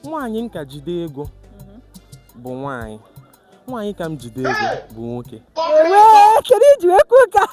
nwaanyị m ka jide ego bụ nwaanyị nwaanyị ka m jide ego bụ nwoke Ewee, kedu ihe i ji wee kwuo ka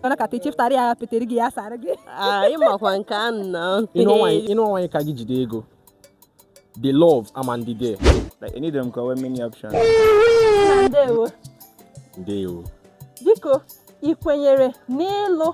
mana ka tichiftara ya petere gị ya sara gị anyị makwa nke a nna ịnụ nwaanyị ịnụ nwaanyị ka gị jide ego the love amandị there Like, you need them cover many options. ndewo ndewo biko ị kwenyere n'ịlụ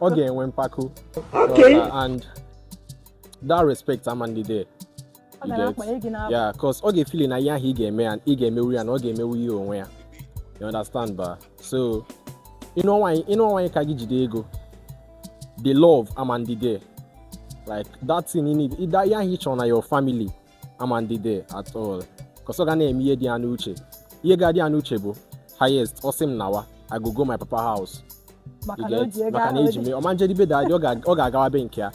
ọ ga-enwe mpako okay and that respect amandị there yeah cos ọ ga-efili na ihe ahụ ị ga-eme ya ị ga-emewu ya na ọ ga-emewu ihe onwe ya you understand ba so ịnụ nwaanyị ka gị jide ego the love amandị there like that thing you need ihe ahụ ị chọrọ na your family amandị there at all cos ọ ga na-eme ihe dị ya n'uche ihe ga-adị ya n'uche bụ highest ọ sị m nawa I go go my papa house maka na o ji ego maka na ahụ eji mee ọ ma njedị be daddy ọ ga- ọ ga-agawa be nke ya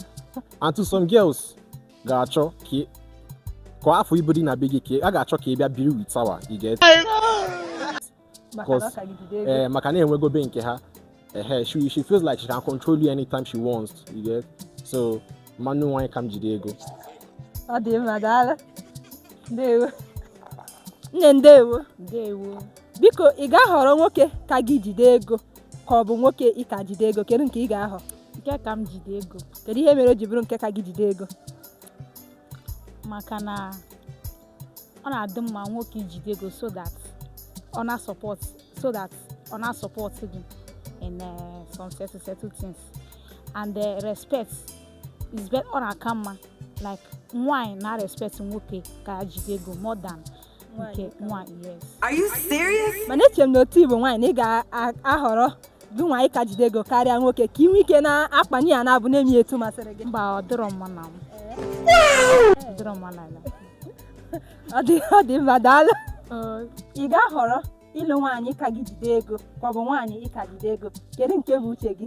and to some girls ga-achọ ka ị- ka ị hafụ ibu dị na be gị ka ị- a ga-achọ ka ị bịa biri with ha wa you get ee eh, maka na enwego be nke ha ehe she she feels like she can control you anytime she wants you get so m ma anụ nwaanyị ka m jide ego ọ dị mma daalụ ndewo nne ndewo ndewo biko ị ga-ahọrọ nwoke ka gị jide ego ka ọ bụ nwoke ị ka jide ego kedu nke ị ga-ahọ nke ka m jide ego kedu ihe mere o ji bụrụ nke ka gị jide ego maka na ọ na-adị mma nwoke ijide ego so that ọ na support so that ọ na support gị in uh, some certain certain things and uh, respect is better ọ na-aka mma like nwaanyị na respect nwoke ka ya jide ego more than nke nwaanyị yes Are you serious? mana eche m na otu ị bụ nwaanyị na ị ga-ahọrọ gị nwa ịka jide ego karịa nwoke ka ị nwee ike na-akpanye ya n'abụ na-eme ya etu masịrị gị mba ọ dịrọ mma na m ọ dịrọ mma na ya ọ dị ọ dị mma daalụ ị ga-ahọrọ ịlụ nwaanyị ka gị jide ego ka ọ bụ nwaanyị ị ka jide ego kedu nke bụ uche gị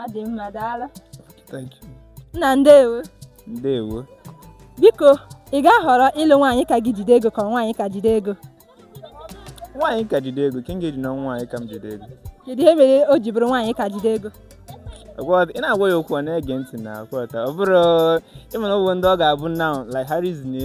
ọ dị mma daalụ nna ndewo ndewo biko ị ga-ahọrọ ịlụ nwaanyị ka gị jide ego ka nwaanyị ị ka jide ego nwaanyị ka jide ego ka m ga-eji na nwaanyị ka m jide ego kedu ihe mere o ji bụrụ nwaanyị ị ka jide ego ị na-agwa ya okwu ọ na-ege ntị na-aghọta ọ bụrụ ị ma na ọ bụ ndị ọ ga-abụ na like ha rizine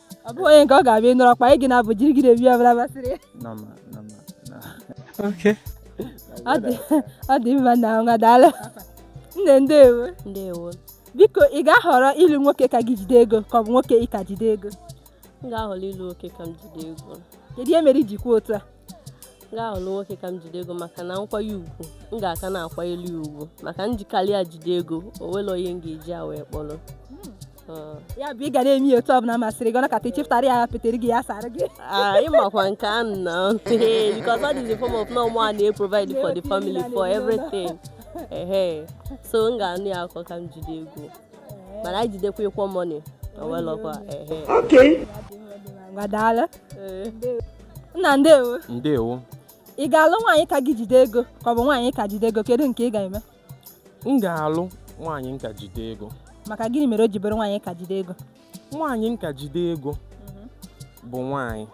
ọ bụghị onye nke ọ ga-abịa nọrọ kpa gị n'abụ jiri gị naa ebe ọbụla masịrị ya ọ dị mma na nwa daalụ nne ndewo ndewo biko ị ga-ahọrọ ịlụ nwoke ka gị jide ego ka ọ bụ nwoke ị ka jide ego m ga-ahọrọ ịlụ nwoke ka m jide ego kedu ihe mere iji kwuo otu a m ga-ahọrọ nwoke ka m jide ego maka na nkwanye ugwu m ga-aka na-akwanyere ya ugwu maka m jikarịa ya jide ego o nwerọ onye m ga-eji ya wee kpọrọ hmm. ya bụ ị ga na-eme ya otu ọbụla masịrị gị ọ nakata ichepụtara ya petere gị ya sara gị ịmakwa nke a na because all is a form of no more and they provide for the family for everything so m ga-anụ ya akọ ka m jide ego mana anyị jidekwa equal money owelọkwa daalụ nna ndewo ndewo ị ga-alụ nwaanyị ka gị jide ego ka ọ bụ nwaanyị ị ka jide ego kedu nke ị ga-eme m ga-alụ nwaanyị m ka jide ego maka gịnị mere o ji bụrụ nwaanyị ị ka jide ego nwaanyị m ka jide ego bụ nwaanyị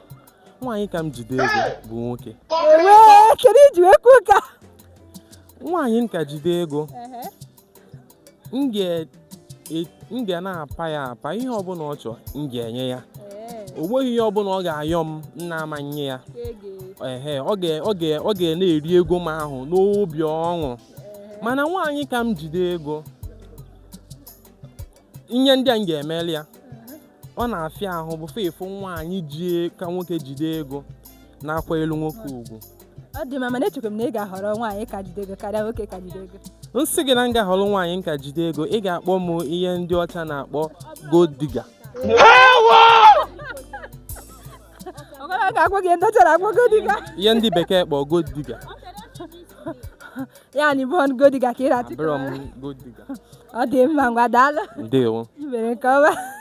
nwaanyị ka m jide ego bụ nwoke ewee kedu i ji wee kwuo ka nwaanyị m ka jide ego m ga E- m ga na-apa ya apa ihe ọbụla ọ chọọ m ga-enye ya o nweghị ihe ọbụla ọ ga-ayọ m m na-ama nye ya ehe ọ ga- ọ ga- ọ ga na-eri ego m ahụ n'obi ọṅụ mana nwaanyị ka m jide ego ihe ndị a m ga-emeli ya ọ na-afịa ahụ before ị fụ nwaanyị ji ka nwoke jide ego na-akwanyelu nwoke ugwu ọ dị mma mana echekwa m na ị ga-ahọrọ nwaanyị ka jide ego karịa nwoke ka jide ego m sị gị na m ga-ahọrọ nwaanyị m ka jide ego ị ga-akpọ m ihe ndị ọcha na-akpọ gold digger ọgara ga-akpọ gị ndị ọcha na-akpọ gold digger ihe ndị bekee kpọ gold digger ya na ị bụ gold digger ka ị na-achịkọ abụrọ m gold digger ọ dị mma ngwa daalụ ndewo i mere nke ọma